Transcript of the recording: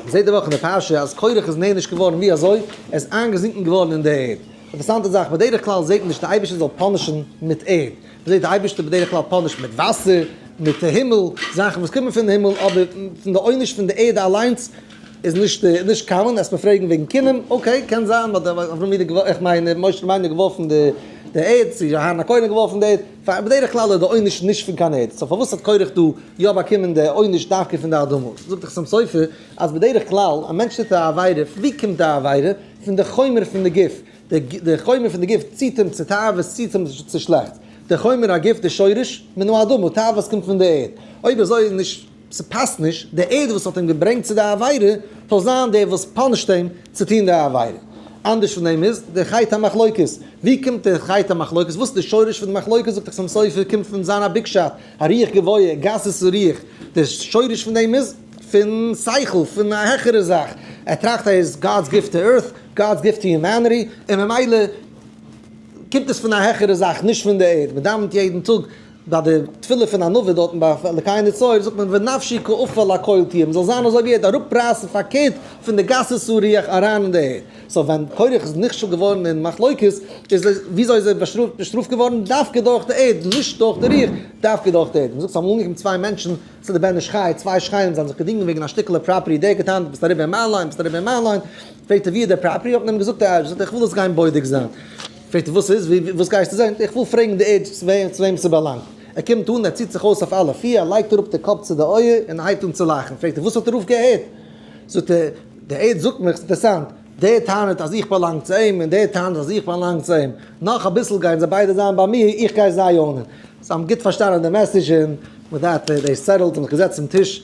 מ'זעט די וואך אין די פרשה אז קרח איז נענש געווארן, ווי אזוי? ער איז איינגעזינקן געווארן אין די ערד. אינטערעסאנטע זאך, בדרך כלל זעט מען נישט די אייבערשטער זאל פאנישן מיט ערד. מ'זעט די אייבערשטער בדרך כלל פאנישט מיט וואסער, מיט הימל, זאכן וואס קומען פון הימל, אבער פון די עונש פון די ערד אליינס איז נישט נישט קאמאן. העסט מיר פרעגן וועגן כינום, אקעי, קען זיין אז אברהם אבינו, איך מיין משה רבינו האט געווארפן די ערד, צו אהרן הכהן האט געווארפן די ערד. פאר בדרך כלל איז די עונש נישט פון קיין ערד, סאו פארוואס האט קורח דא יא באקומען די עונש דווקא פון די אדמות? זאגט החתם סופר אז בדרך כלל א מענטש טוט א עבירה, פון ווי קומט די עבירה? פון די חומר פון די גוף, די חומר פון די גוף ציט אים צו תאוות, ציט אים צו שלעכטס, די חומר הגוף, די שורש, מן האדמה, תאוות קומט פון די ערד, אויב אזוי איז נישט. ס'פאסט נישט דער עד וואס האט אים געברענגט צו די עבירה זאל זיין דער וואס פאנישט אים צו טון די עבירה, אנדערש פון דעם איז דער חית המחלוקת, ווי קומט דער חית המחלוקת, וואס איז דער שורש פון די מחלוקת, זאגט החתם סופר קומט פון זיין א ביקשאט, א רוח גבוה, גסות רוח, דער שורש פון דעם איז פון שכל, פון א העכערע זאך, ער טראכט ער איז God's gift to earth, God's gift to humanity, און ממילא קומט עס פון א העכערע זאך, נישט פון די ערד, מען דאווענט יעדן טאג, ביי די תפילה פון ענווה דארטן ביי אלקי נצור זאגט מען ונפשי כעפר לקויל תהיה, מען זאל זיין אזוי ווי ערד, אראפרייסן פארקערט פון די גסות רוח אריין אין די ערד, סאו ווען קרח איז נכשל געווארן אין מחלוקת, איז וויאזוי איז ער באשטראפט געווארן, דווקא דורך די ערד, נישט דורך די רוח, דווקא דורך די ערד, מען זאגט ס'האבן אנגעקומען צוויי מענטשן צו די בן איש חי, צוויי שכנים זיי האבן זיך געדינגען וועגן א שטיקעלע פראפערטי, דער האט געטענהט דו ביסט אריבער אין מיין ליין, ביסט אריבער אין מיין ליין, פרעגט ער ווי איז די פראפערטי, האט מען אים געזאגט די אייבערשטער זאגט איך וויל עס גיין בודק זיין. פרעגט ער וואס איז? וואס גייסטו זען? איך וויל פרעגן די עדזש צו וועם ס'באלאנגט. ער קומט אן, ער ציט זיך אויס אויף אלע פיר, ער לייגט אראפ די קאפ צו די אויער און ער הייבט אן צו לאכן. פרעגט ער וואס האט ער אויפגעהערט? זאגט ער, די עדזש זאגט מיך, ס'אינטערעסאנט, דער טענה'ט אז איך באלאנג צו אים און דער טענה'ט אז איך באלאנג צו אים. נאך אביסל גייען זיי ביידע זיין ביי מיר, איך גיי זיי אוינען. זיי האבן גוט פארשטאנען די מעסעדזש און מיט דעט איז דאס סעטעלד, זיי האבן זיך געזעצט צום טיש.